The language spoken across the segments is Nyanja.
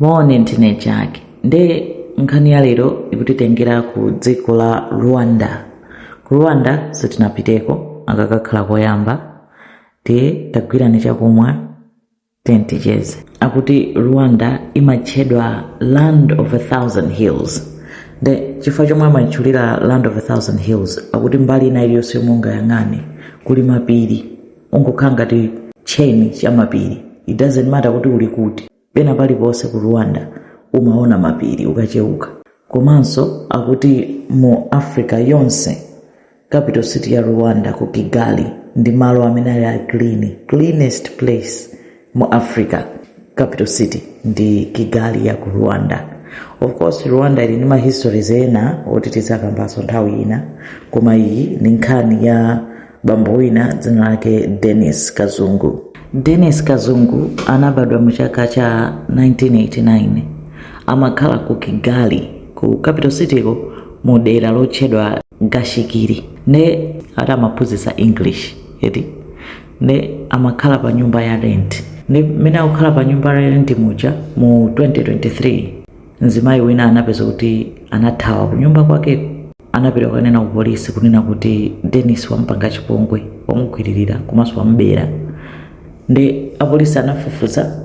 mone ndine chake nde nkhani ya lero ikutitengera ku dziko la rwanda ku rwanda sitinapiteko akakakhala koyamba tiye tagwirani chakumwa then ticheze akuti rwanda imatchedwa land of a thousand hills nde chifukwa chomwe amatchulira land of a thousand hills akuti mbali ina iliyonse yomwe ungayang'ane kuli mapiri kungokhala ngati tcheni cha mapiri it doesn't matter kuti uli kuti Pena paliponse ku Rwanda umaona mapiri ukacheuka. Komanso akuti mu Africa yonse, capital city ya Rwanda ku Kigali ndi malo amene ali a clean, cleanest place mu Africa. Capital city ndi Kigali ya ku Rwanda. Of course Rwanda ili ndi ma histories ena oti tidzakambanso nthawi ina, koma iyi ndi nkhani ya bambo wina dzina lake denis kazungu denis kazungu anabadwa mu chaka cha 1989 amakhala ku kigali ku capital cityko mu dera lotchedwa gashikiri ne ati amaphunzitsa english eti ne amakhala pa nyumba ya rent ne mmene akukhala pa nyumba ya rent muja mu 2023 mzimayi wina anapeza kuti anathawa ku nyumba kwakeko anapita kukanena ku polisi kunena kuti Dennis wamupanga chipongwe wamugwiririra komanso wamubera ndi apolisi anafufuza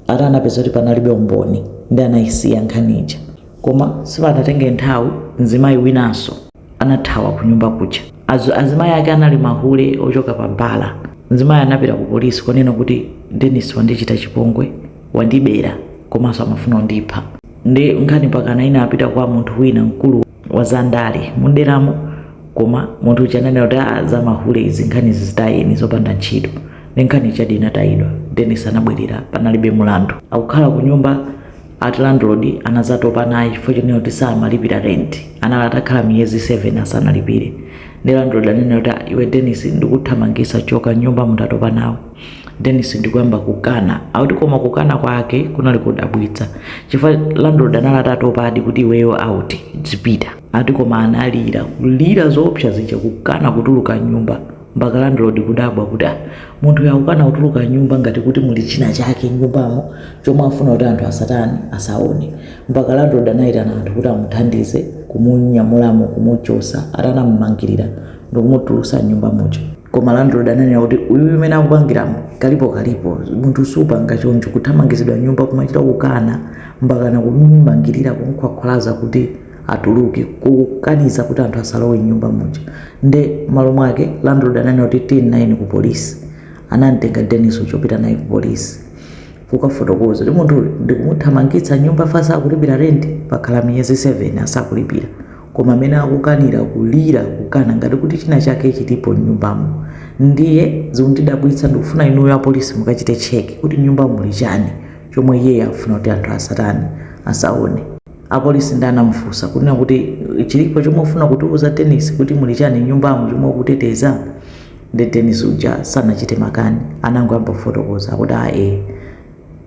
ati anapeza kuti panalibe umboni ndi anayisiya nkhani ija koma sipanatenge nthawi mzimayi winanso anathawa ku nyumba kuja Azu, azimayi ake anali mahule ochoka pa bala mzimayi anapita ku polisi kukanena kuti Dennis wandichita chipongwe wandibera komanso amafuna kundipha ndi nkhani mpakana inapita kwa munthu wina mkulu wa zandale muderamo koma munthu uja ananena kuti "Ah, za mahule izi nkhani zitayeni zopanda ntchito ndi nkhani chadi inatayidwa denis anabwerera panalibe mulandu akukhala ku nyumba ati landlord anazatopa naye chifukwa chonena kuti samalipira rent anali atakhala miyezi 7 asanalipire ndi landlord ananena kuti "Ah, iwe denis ndikuthamangisa choka nyumbamu tatopa nawo Dennis ndikuyamba kukana akuti koma kukana kwake kunali kodabwitsa chifukwa landlord anali atatopadi kuti iweyo out zipita ati koma analira kulira zoopsa zija kukana kutuluka nyumba mpaka landlord kudabwa kuti "Ah, munthu uyu akukana kutuluka nyumba ngati kuti muli china chake nyumbamo chomwe afuna kuti anthu asatani asaone mpaka landlord anayitana anthu kuti amuthandize kumunyamulamo kumuchosa atamumangirira ndikumutulusa nyumba muja koma landlord ananena kuti uyu mmene akupangiramu kalipo kalipo munthu supanga choncho kuthamangizidwa nyumba kumachita kukana mpakana kumumangirira kumkhwakhwalaza kuti atuluke kukaniza kuti anthu asalowe nyumba muja nde malo mwake landlord ananena kuti tiyeni nayeni ku polisi anamtenga denis nkupita naye ku polisi kukafotokoza kuti munthuyu ndikumuthamangitsa nyumba chifukwa sakulipira renti pakhala miyezi 7 asakulipira Koma mmene akukanira, kulira, kukana ngati kuti china chake chilipo mnyumbamo. Ndiye zikundidabwitsa ndikufuna inuyo apolisi mukachite check kuti mnyumbamo muli chani chomwe iyeyo akufuna kuti anthu asatani, asaone. Apolisi nde anamufunsa kunena kuti chilipo chomwe ukufuna kutiuza Dennis kuti muli chani mnyumbamu chomwe ukuteteza? Nde Dennis uja sanachite makani anangoyamba kufotokoza akuti aah eeh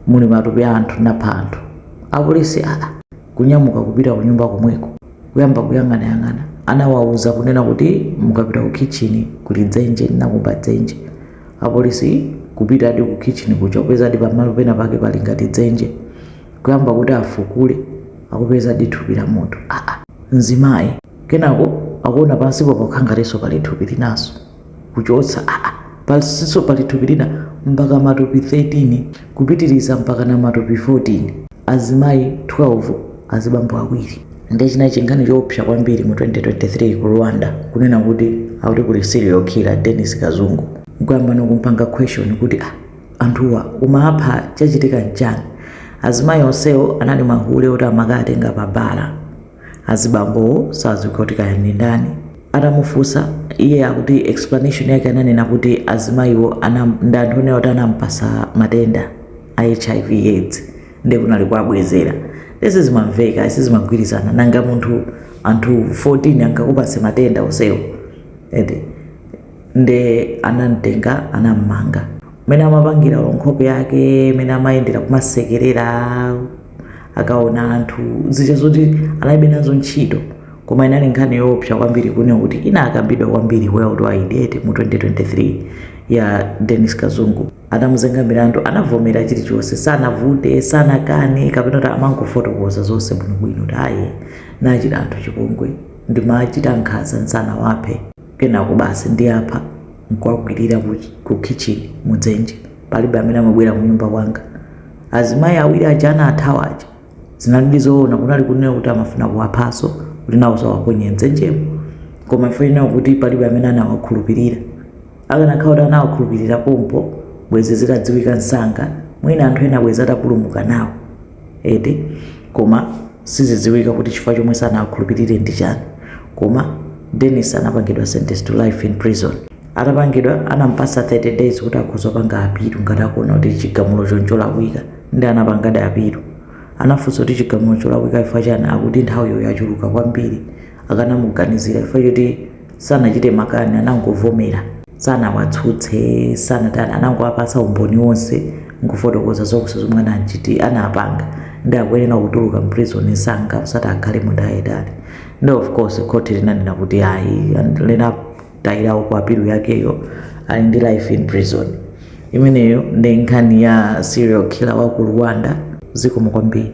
muli matupi a anthu ndinapha anthu. Apolisi aah. kunyamuka kupita kunyumba komweko kuyamba kuyang'anayang'ana anawauza kunena kuti mukapita ku kitchen kuli dzenje ndinakumba dzenje apolisi kupitadi ku kitchen kuja kupezadi pamalo pena pake pali ngati dzenje kuyamba kuti afukule akupezadi thupi la munthu aa mzimayi kenako akuona pansipo pakukhala ngatinso pali thupi linanso kuchotsa aa pansinso pali thupi lina mpaka matupi 13 kupitiliza mpakana matupi 14 azimayi 12 azibambo awiri nde chinali chinkhani choopsa kwambiri mu 2023 ku Rwanda kunena kuti akuti kuli serial killer Denis Kazungu nkuyamba no kumpanga question kuti ah anthuwa umawapha chachitika nchani azimayi onsewo anali mahule oti amakawatenga pa bala azibambowo saziwika kuti kaya ndi ndani atamufunsa iye akuti explanation yake ananena kuti azimayiwo anam- ndi anthu onena kuti anampatsa matenda a hiv aids ndiye kunali kuabwezera eeh sizimamveka sizimagwirizana nanga munthu anthu 14 angakupatse matenda onsewo eti nde anamtenga anammanga mene amapangira olo nkhope yake mene amayendera kumasekerera akaona anthu zija zoti analibe nazo ntchito koma inali nkhani yoopsa kwambiri kunena kuti inakambidwa kwambiri world wide eti mu 2023 ya denis kazungu atamuzenga milandu anavomera chilichonse sanavute sanakane kapena kuti amangofotokoza zonse bwinobwino kuti ayi ndawachita anthu chipongwe ndimawachita nkhanza nsanawaphe kenako basi ndiwapha nkuwakwirira ku, ku kitchen mudzenje palibe amene amabwera kunyumba kwanga azimayi awiri aja anathawa aja zinalidi zoona kunali kunena kuti amafuna kuwaphanso kuti nawonso awaponye mdzenjemo koma chifukwa chonena kuti palibe amene anawakhulupirira akanakhala kuti anawakhulupirira pompo bwezi zitadziwika msanga mwina anthu ena bwezi atapulumuka nawo eti koma sizidziwika kuti chifukwa chomwe sanawakhulupirire ndi chani koma denis anapangidwa sentence to life in prison atapangidwa anampasa 30 days kuti akhoza kupanga apilu ngati akuona kuti chigamulo ncholakwika ndi anapangadi apilu anafunsa kuti chigamulo cholakwika chifukwa chani akuti nthawiyo yachuluka kwambiri akanamuganizira chifukwa choti sanachite makani anangovomera sanawatsutse sanatani anangowapasa umboni wonse nkufotokoza zonse zomwe anapanga ndi akuyenera kutuluka mprison msanga osati akhale mu ndende yaitali ndi of course khoti linanena kuti ayi linatayirawo ku apilu yakeyo ali ndi life in prison imeneyo ndi nkhani ya serial killer wa ku rwanda zikomo kwambiri